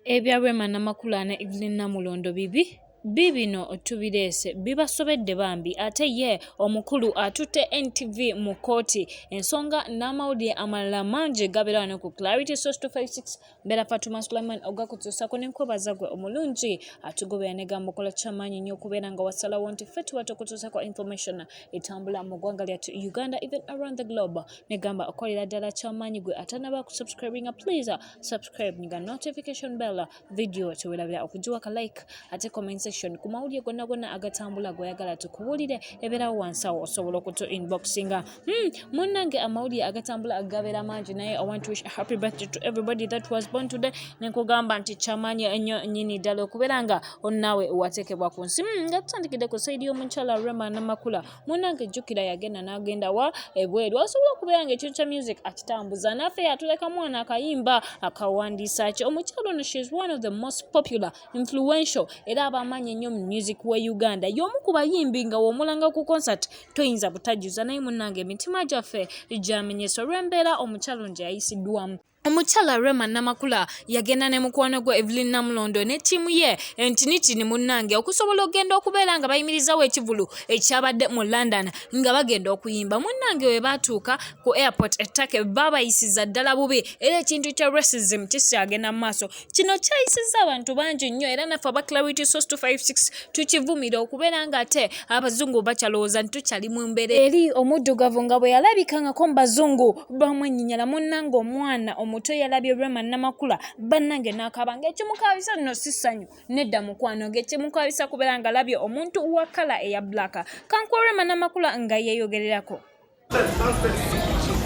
Ebya Rema Namakula ne Evelyn Namulondo bibi bibino tubireese bibasobedde bambi ate ye omukulu atutte NTV mu kkooti ensonga n'amawulire amalala mangi gabeera wano ku Clarity Source 256 mbeera Fatuma Sulaiman ogakutuusako ne nkwebaza gwe omulungi atugobera ne gamba okola kyamaanyi nnyo okubeera nga wasalawo nti ffe tuba tukutuusako information etambula mu ggwanga lyattu Uganda even around the globe ne gamba okolera ddala kyamaanyi gwe atanaba kusubscribinga please subscribe nga notification bell video tewelabira okugiwa ka like ate comment section ku mawulire gonna gonna agatambula goyagala tukubuulire ebeerawo wansi awo osobola okutu inboxinga hmm, munnange amawulire agatambula agabeera mangi naye i want to wish a happy birthday to everybody that was born today nenkugamba nti kyamaanyi ennyo nyini ddala okubeera nga onnaawe wateekebwa ku nsi hmm, nga tutandikidde ku saidi y'omukyala rema namakula munange jjukira yagenda n'agenda wa ebweru asobola okubeera nga ekintu kya music akitambuza naffe yatuleka mwana akayimba akawandiisa ki omukyalo ono she is one of the most popular influential era abamaanyi ennyo mu music we uganda y'omu ku bayimbi nga womulanga ku concert toyinza butajuza naye munange emitima gyaffe gyamenyesa olw'embeera omukyalo nje yayisiddwamu Omukyala Rema Namakula yagenda ne mukwano gwe Evelyn Namulondo ne ttiimu ye entinitini munnange okusobola okugenda okubeera nga bayimirizaawo ekivulu ekyabadde mu London nga bagenda okuyimba. Munnange we baatuuka ku airport ettake baabayisiza ddala bubi era ekintu kya racism kikyagenda mu maaso. Kino kyayisizza abantu bangi nnyo era naffe aba Clarity Source 256 tukivumira okubeera nga ate abazungu bakyalowooza nti tukyali mu mbeera eri omuddugavu nga bwe yalabikangako mu bazungu bamwenyinyala munnange omwana omuto yalabye Rema Namakula bannange n'akaaba ng'ekimukaabisa nno si ssanyu nedda mukwano ng'ekimukaabisa kubeera ng'alabye omuntu wa kkala eya bbulaaka kankuwa Rema Namakula nga yeeyogererako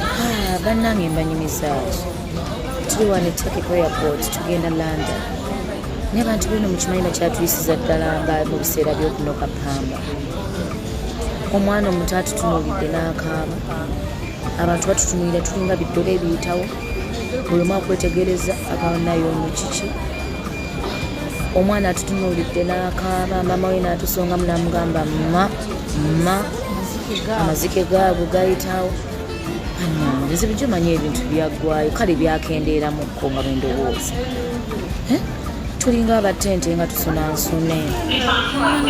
Ah, bannange mbanyumizaaki tuli wano ettake ku airport tugenda london naye abantu beno mukimanyi bakyatuyisiza ddala nga mu biseera byokunoka pamba omwana omuto atutunuulidde n'akaaba abantu batutunuulira tulinga biddogo ebiyitawo buli omu akwetegereza akawanayo ono kiki omwana atutunuulidde n'akaaba maama we n'atusongamu n'amugamba mma ma amazike gaabwe gayitawo ebizibu gyomanyi ebintu byaggwayo kale byakendeeramukko nga bendowooza eh? tulinga abatente nga tusuna nsune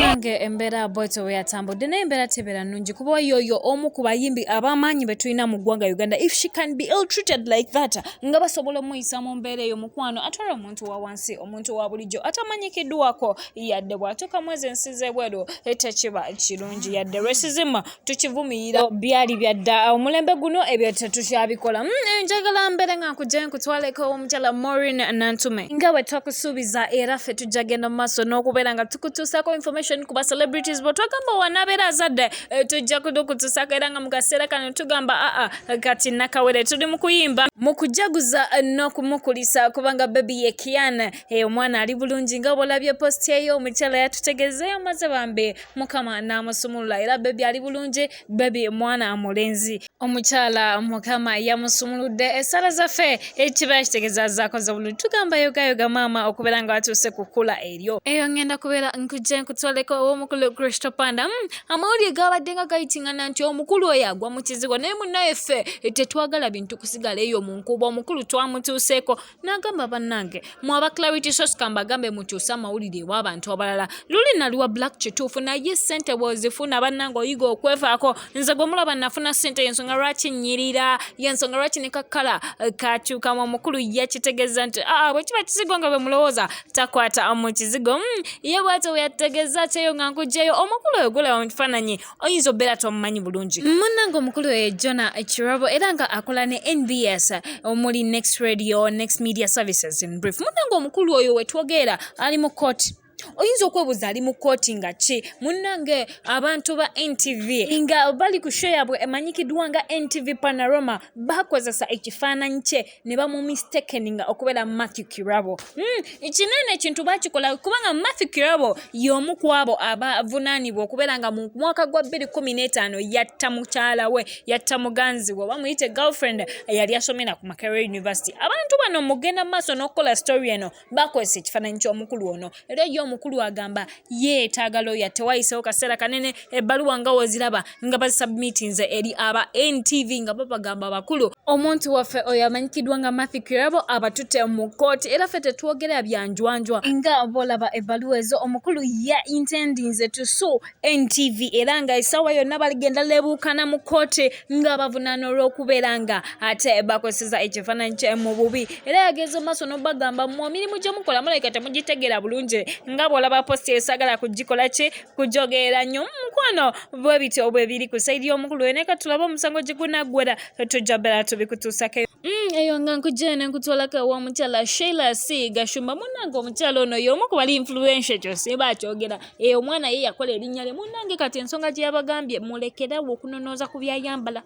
nange embeera bwetyo weyatambudde naye embeera tebeera nungi kuba yoyo omu ku bayimbi abamaanyi be tulina mu ggwanga uganda if she can be ill treated like that nga basobola omuyisa mu mbeera eyo mukwano atwala omuntu wa wansi omuntu wa bulijjo atamanyikiddwako yadde bw'atuuka mwezi ensi z'ebweru tekiba kirungi yadde resizima tukivumirira byali byadda omulembe guno ebyo tetukyabikola hmm, eh, njagala mbeere nga nkugye nkutwaleko omukyala morin nantume nga bwe twakusuubiza era ffe tujja genda mu maaso n'okubeera nga tukutuusaako information ku ba celebrities bwe twagamba wanabeera azadde eh, tujja kudukutuusaako era nga mu kaseera kano tugamba aa ah, ah, kati nakawere tuli mu kuyimba mu kujaguza n'okumukulisa kubanga bebi ye kiana eyo omwana ali bulungi nga bwolabye posti eyo omukyala yatutegezeeyo maze bambi mukama n'amusumulula era bebi ali bulungi bebi mwana mulenzi omukyala mukama yamusumuludde esala zaffe ekiba kitegeeza zakoze bulungi tugamba yogayoga maama okubeera nga watuuse kukula eryo eyo ngenda kubeera nkujja nkutwaleko ow'omukulu kristo panda hmm, amawulire gaabadde nga gayitingana nti omukulu oyo agwa mu kizigo naye munnaye ffe eh, tetwagala bintu kusigala eyo mu nkuuba omukulu twamutuuseeko n'agamba bannange mwe aba clarity sos kambagambe mutuuse amawulire ew'abantu abalala luli nali wa black kituufu naye ssente bw'ozifuna bannange oyiga okwefaako nze gwe mulaba nafuna ssente yensonga lwaki nnyirira yensonga lwaki ne kakkala eh, kakyukamu omukulu yakitegeza nti aa ah, bwe kiba kizigo nga bwe mulowooza takwata mu kizigo mm, ye bwatyo bwe yategeeza kyeyo nga nkugyeyo omukulu oyo gulaba mu kifaananyi oyinza obeera tomumanyi bulungi munnange omukulu oyo jona kirabo era nga akola ne nbs omuli next radio next media services in brief munnange omukulu oyo wetwogeera ali mu kooti oyinza okwebuuza ali mu kooti nga ki munnange abantu ba ntv nga bali ku sho yabwe emanyikiddwa nga ntv panaroma bakozesa ekifaananyi kye ne bamumistekeninga okubeera matthew kirabo hmm, kinene ekintu bakikola kubanga matthew kirabo y'omu ku abo abavunaanibwa okubeera nga mu mwaka gwa 215 yatta mukyala we yatta muganzi we bamuyite girlfriend eyali asomera ku makerel university abantu bano mugenda mu maaso n'okukola story eno bakozesa ekifaananyi ky'omukulu ono era ye omukulu agamba yeetaaga looya tewayisewo kaseera kanene ebbaluwa nga woziraba nga bazisubmitinze eri aba ntv nga babagamba abakulu omuntu waffe oyo amanyikiddwa nga mathy kirabo abatutte mu kkooti era ffe tetwogera byanjwanjwa nga bolaba ebbaluwa ezo omukulu ya intendinze tusu NTV era nga essaawa yonna baligenda lebuukana mu kkooti nga bavunaana olw'okubeera nga ate bakozeseza ekifaananyi kye mu bubi era yageze mu maaso n'obagamba mu emirimu gye mukola mulabika temugitegeera bulungi nga bw'olaba posita esagala kugikola ki kujogeera nnyo mukwano bwe bityo bwe biri ku sayidi y'omukulu wene ka tulabe omusango gye gunaggwera tujja bera tubikutuusako mm, eyo nga nkujjene ne nkutwalako ew'omukyala sheila c gashumba munnange omukyala ono y'omu ku bali influensia ekyo simba akyogera eyo omwana ye yakola erinnya lye munnange kati ensonga gye yabagambye mulekerawo okunonooza ku byayambala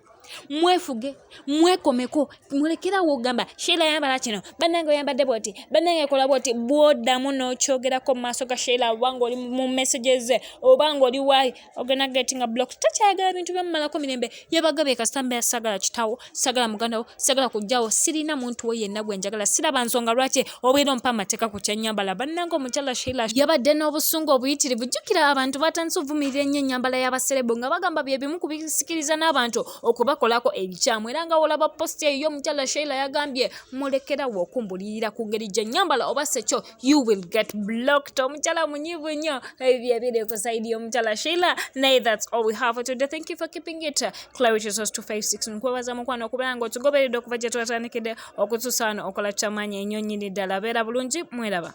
mwefuge mwekomeko mulekerawo ogamba sheila yambala kino bannange oyambadde bwoti bannange ekola bwoti bwodamu n'okyogerako mu maaso ga sheila oba ngaoli mu messages oba ngaoli waali ogenda getting a block takyayagala bintu byamumalako mirembe yabagabye kasita mbeera sagala kitawo sagala muganda wo sagala kujjawo sirina muntu we yenna gwe njagala siraba nsonga lwaki obeera ompa amateeka ku kyenyambala bannanga omukyala sheila yabadde n'obusungu obuyitirivu jjukira abantu batandise ovumirira ennyo ennyambala y'abaserebo nga bagamba bye bimu ku bisikiriza n'abantu okubakolako ebikyamu era nga olaba positi eyo omukyala sheila yagambye mulekerawo okumbulirira ku ngeri gye nyambala oba sekyo you will get blocked. Omchala munyivu nyo hivyo vile kusaidia omchala Sheila. Nay, that's all we have for today. Thank you for keeping it. Clarity Source 256 nkwebaza mukwano okubeera nga otugoberedde okuva gye twatandikidde okutusaana okola kyamaanyi enyo nyini ddala beera bulungi mweraba